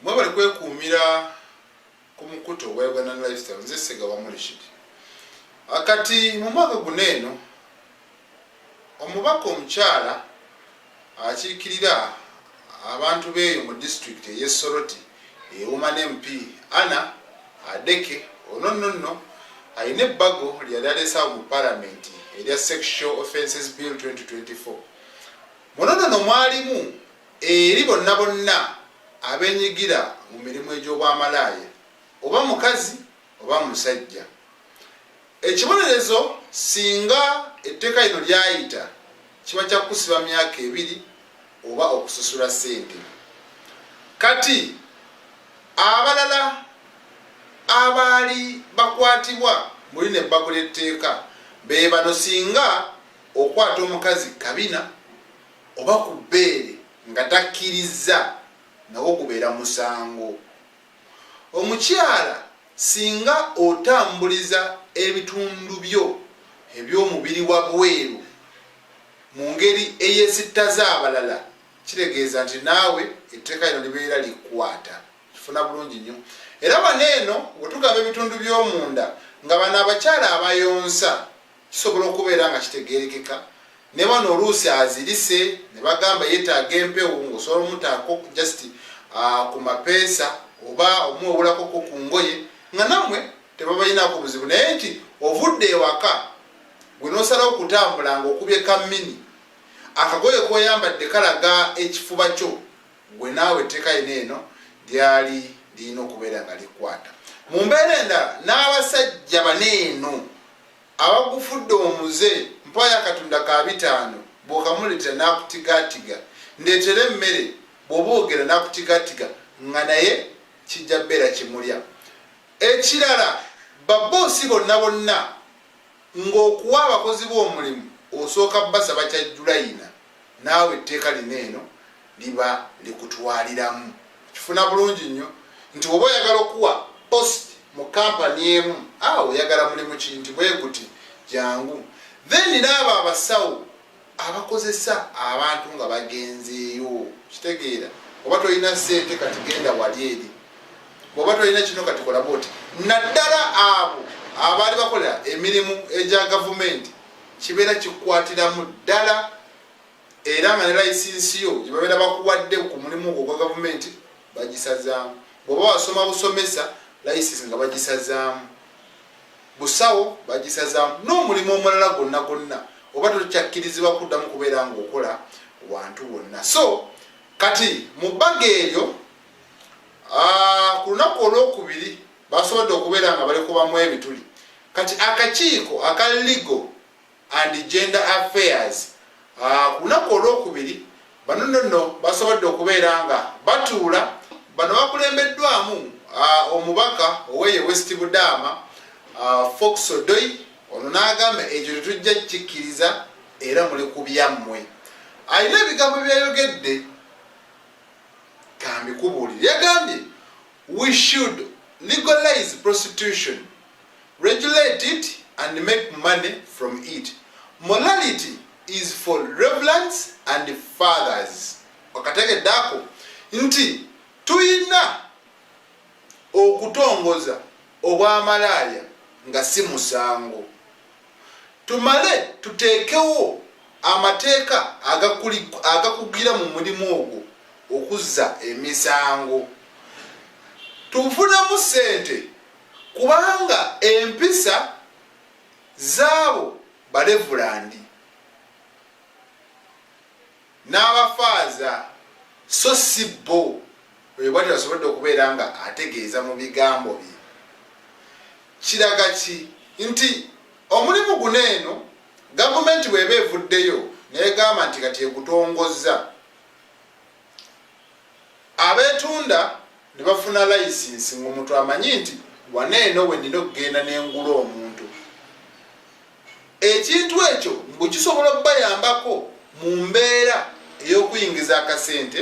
mwebale kwekuumira ku mukutu ogwa uganda lifestyle nze sega wamulishidi akati mu mwaka guno eno omubaka omukyala akiikirira Abantu beeyo mu disitulikiti ey'e Soroti ewoma n'MP Anna Adeke ono nno nno alina ebbago lye yali aleesaawo mu palamenti erya Sexual Offences Bill 2024. Muno nno no mwalimu eri bonna bonna abenyigira mu mirimu egy'obwamalaaya oba mukazi oba musajja ekibonerezo singa etteeka lino lyayita kiba kya kukusiba myaka ebiri oba okusasula ssente kati abalala abaali bakwatibwa muli ne bbagula etteeka be bano singa okwata omukazi kabina oba ku bbeere nga takkirizza nawo gubeera musango Omukyala singa otambuliza ebitundu byo eby'omubiri wabweru mu ngeri eyesittaza abalala kitegeeza nti naawe etteeka lino libeera likwata. Kifuna bulungi nnyo. Era wano eno wetugaba ebitundu by'omunda nga bano abakyala abayonsa Kisobola okubeera nga kitegeerekeka ne bano oluusi azirise ne bagamba yeetaaga empewo ng'osobola omutaako just ah, ku mapeesa oba omuwewulakoko ku ngoye nga nammwe tebabalinaako buzibu naye nti ovudde ewaka gwe n'osalawo okutambula ng'okubye kammini akagoye k'oyambadde kalaga ekifuba kyo gwe naawe etteeka yina eno lyali lirina okubeera nga likwata mu mbeera endala n'abasajja baneeno Abagufudde omuze mpaayo akatunda ka bitaano bw'okamuleetera n'akutigaatiga ndeetera emmere bw'oba ogera n'akutigaatiga nga naye kijja beera kimulya. Ekirala babboosi bonna bonna ng'okuwa abakozi bo omulimu osooka basaba kya Julayina. naawe etteeka lino eno liba likutwaliramu. Okifuna bulungi nnyo nti bw'oba oyagala okuwa post mu kkampani emu, a oyagala mulimu ki nti bwe guti jangu. Then n'abo abasawo abakozesa abantu nga bagenzeeyo, okitegeera, oba tolina ssente kati genda wali eri, bw'oba tolina kino kati kola bwoti. Naddala abo abaali bakola emirimu egya gavumenti kibeera kikwatiramu ddala era nga ne layisinsi yo gye babeera bakuwadde ku mulimu ogwo gwa gavumenti bagisazaamu bw'oba wasoma busomesa layisinsi nga bagisazaamu busawo bagisazaamu n'omulimu omulala gwonna gwonna oba tokyakkirizibwa kuddamu kubeera ng'okola wantu wonna so kati mu bbaga eryo ah, ku lunaku olwokubiri basobodde okubeera nga balikubamu ebituli kati akakiiko aka legal and gender affairs ah, ku lunaku olwokubiri bano nono basobodde okubeera nga batuula bano bakulembeddwamu ah, omubaka oweyo west budaama ah, fox odoi ono n'agamba ekyo tetujja kikkiriza era muli ku byammwe alina ebigambo byeyayogedde kambikubuulire yagambye We should legalize prostitution, regulate it and make money from it. Morality is for reverends and fathers. Wakategedde ako nti tuyina okutongoza obwamalaaya nga si musango. tumale tuteekewo amateeka agakugira mu mulimu ogwo okuzza emisango tufunemu ssente kubanga empisa zaabo balevulandi n'abafaaza so si bo oyo bwatyo asobodde okubeera nga ategeeza mu bigambo bye kiraga ki nti omulimu guno eno gavumenti bweba evuddeyo negamba nti kati egutongozza abetunda ne bafuna layisinsi ngaomuntu amanyi nti wana eno wenina okugenda nengula omuntu Ekintu ekyo mbu kisobola okubayambako mu mbeera ey'okuyingiza akasente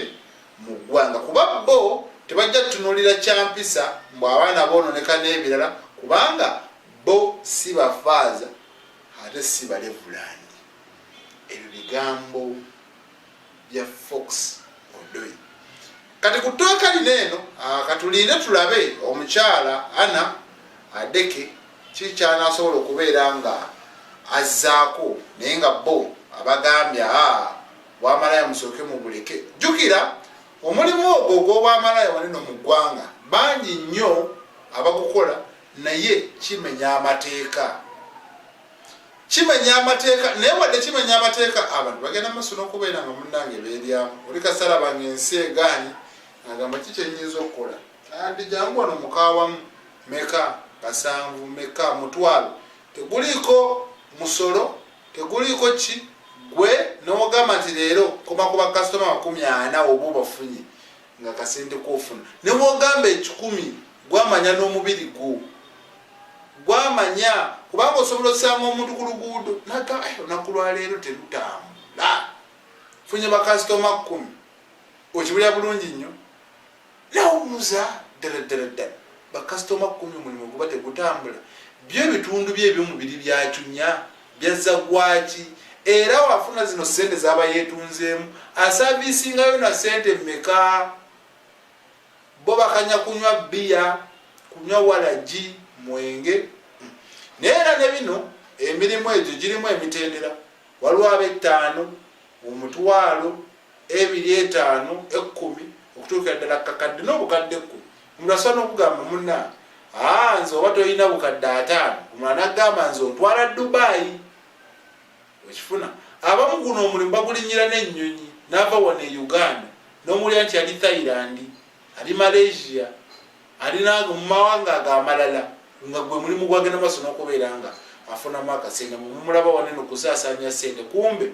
mu ggwanga kuba bbo tebajja kutunuulira kya mpisa mbu abaana boononeka n'ebirala kubanga bbo si bafaaza ate si balevulandi. Ebyo bigambo. bya fox odoi kati ku tooka lino eno ah, katulinde tulabe omukyala ana adeke kikyanasobola okubeera nga azzaako naye nga bo abagambye a ah, bwamalaya musooke mubuleke jjukira omulimu ogwo ogwobwamalaya waneno mu ggwanga bangi nnyo abagukola naye kimenya amateeka kimenya amateeka naye wadde kimenya amateeka abantu bagenda maaso n'okubeera nga munnange beeryamu oli kasala bange ensi egaanyi agamba ki kyenyinza okukola andi jangu wano mukawamu meka kasanvu meka mutwalo teguliiko musolo teguliiko ki gwe n'ogamba nti leero koma ku bakasitoma makumi ana oba obafunye nga kasente kofuna newogamba ekikumi gwamanya n'omubiri gwo gwamanya kubanga osobola osanga omuntu ku luguudo naga eh, olunaku lwaleero terutambula funye bakasitoma kkumi okibulira bulungi nnyo nawubuza ddala ddala ddala bakasitoma kkumi omulimu guba tegutambula byo ebitundu bye ebyomubiri byacunya Byazza gwaki era wafuna zino ssente zaba yeetunzeemu asaaviisingayo na ssente mmeka? Bo bakanya kunywa bbiya, kunywa walagi, mwenge. Hmm. Naye era ne bino emirimu egyo girimu emitendera. Waliwo ab'ettaano, omutwalo, ebiri, etaano, ekkumi, okutuukira ddala kakadde n'obukadde ekkumi. Omuntu asobola n'okugamba munnange, aa nze oba tolina bukadde ataano, omulala n'agamba nze ontwala Dubai. Okifuna abamu guno omulimu bagulinnyira n'ennyonyi n'ava wano e Uganda n'omuwulira nti ali Thailand, ali Malaysia, ali nange mu mawanga ago amalala nga gwe mulimu gwagenda maaso n'okubeera nga afunamu akasente mumulaba waneno kusaasaanya sente kumbe